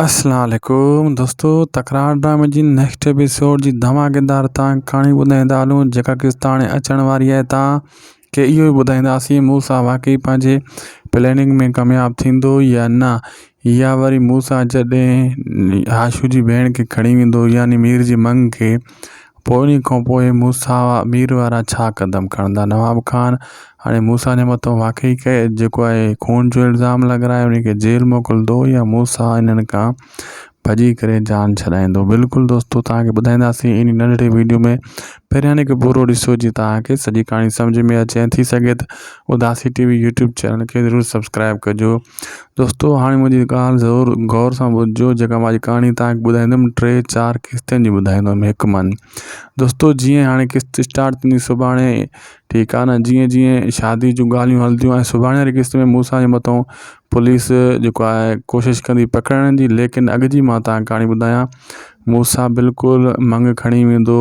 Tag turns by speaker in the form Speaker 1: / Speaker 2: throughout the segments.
Speaker 1: اسلام عليڪم دوستو تڪرار ڊرامي جي نيڪسٽ ايپيسوڊ جي ڌماڪيدار تان ڪھاڻي ٻڌائيندا ھلون جيڪا قسط ھاڻي اچڻ واري آھي تان کي اھو ئي ٻڌائينداسين موسيٰ واقعي پنھنجي پليننگ ۾ ڪامياب ٿيندو يا نه يا وري موسيٰ جڏھن ھاشو جي ڀيڻ کي کڻي ويندو يعني مير جي مڱ کي پوء انهيء کان پوء موسيٰ مير وارا ڇا قدم کڻندا؟ نواب خان هاڻي موسيٰ جي مٿان واقعي ڪهي جيڪو آهي خون جو الزام لڳرائي انهيء کي جيل موڪلندو يا موسيٰ انهن کان ڀڄي ڪري جان ڇڏائيندو؟ بلڪل دوستو توهان کي ٻڌائينداسين انهيء ننڍڙي وڊيو ۾ پهريان هن کي پورو ڏسو جيئن توهان کي سڄي ڪهاڻي سمجهه ۾ اچي ۽ ٿي سگهي ته اداسي ٽي وي يوٽيوب چينل کي ضرور سبسڪرائب ڪجو دوستو هاڻي منهنجي ڳالهه ضرور غور سان ٻڌجو جيڪا مانجي ڪهاڻي تهانکي ٻڌائيندم ٽي چار قسطن جي ٻڌائيندم هڪ من دوستو جيئن هاڻي قسط اسٽارٽ ٿيندي سڀاڻي ٺيڪ آ نه جيئن جيئن شادي جون ڳالهيون هلنديون آهن سڀاڻي واري قسط ۾ مون سان مٿو پوليس جيڪو آهي ڪوشش ڪندي پڪڙائڻ جي ليڪن اڳ جي مان تهانکي ڪهاڻي ٻڌايان مون سان بلڪل منگ کڻي ويندو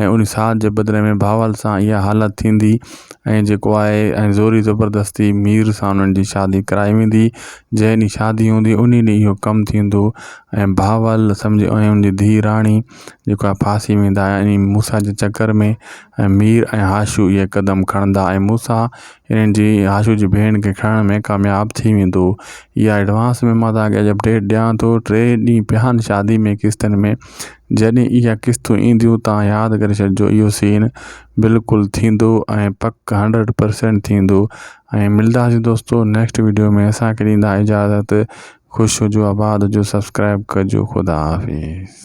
Speaker 1: ۽ ان ساهه جي بدلي ۾ بهاول سان اها حالت ٿيندي ۽ جيڪو آهي ۽ زوري زبردستي مير سان انهن جي شادي ڪرائي ويندي جنهن ڏينهن شادي هوندي انهي ڏينهن اهو ڪم ٿيندو ۽ بهاول سمجهي ۽ ان جي ڌيء راڻي جيڪو آهي ڦاسي ويندا ۽ انهي موسيٰ جي چڪر ۾ ۽ مير ۽ هاشو اهي قدم کڻندا ۽ موسيٰ انهن جي هاشو جي ڀيڻ کي کڻڻ ۾ ڪامياب ٿي ويندو اها ايڊوانس ۾ مان توهان کي اڄ اپڊيٽ ڏيان ٿو ٽي ڏينهن پيا آهن شادي ۾ قسطن ۾. جڏهن اها قسطون اينديون تان ياد ڪري ڇڏجو اهو سين بلڪل ٿيندو ۽ پڪ هنڊريڊ پرسينٽ ٿيندو ۽ ملداسين دوستو نيڪسٽ ويڊيو ۾ اسان کي ڏيندا اجازت خوش هجو آباد هجو سبسڪرائب ڪجو خدا حافظ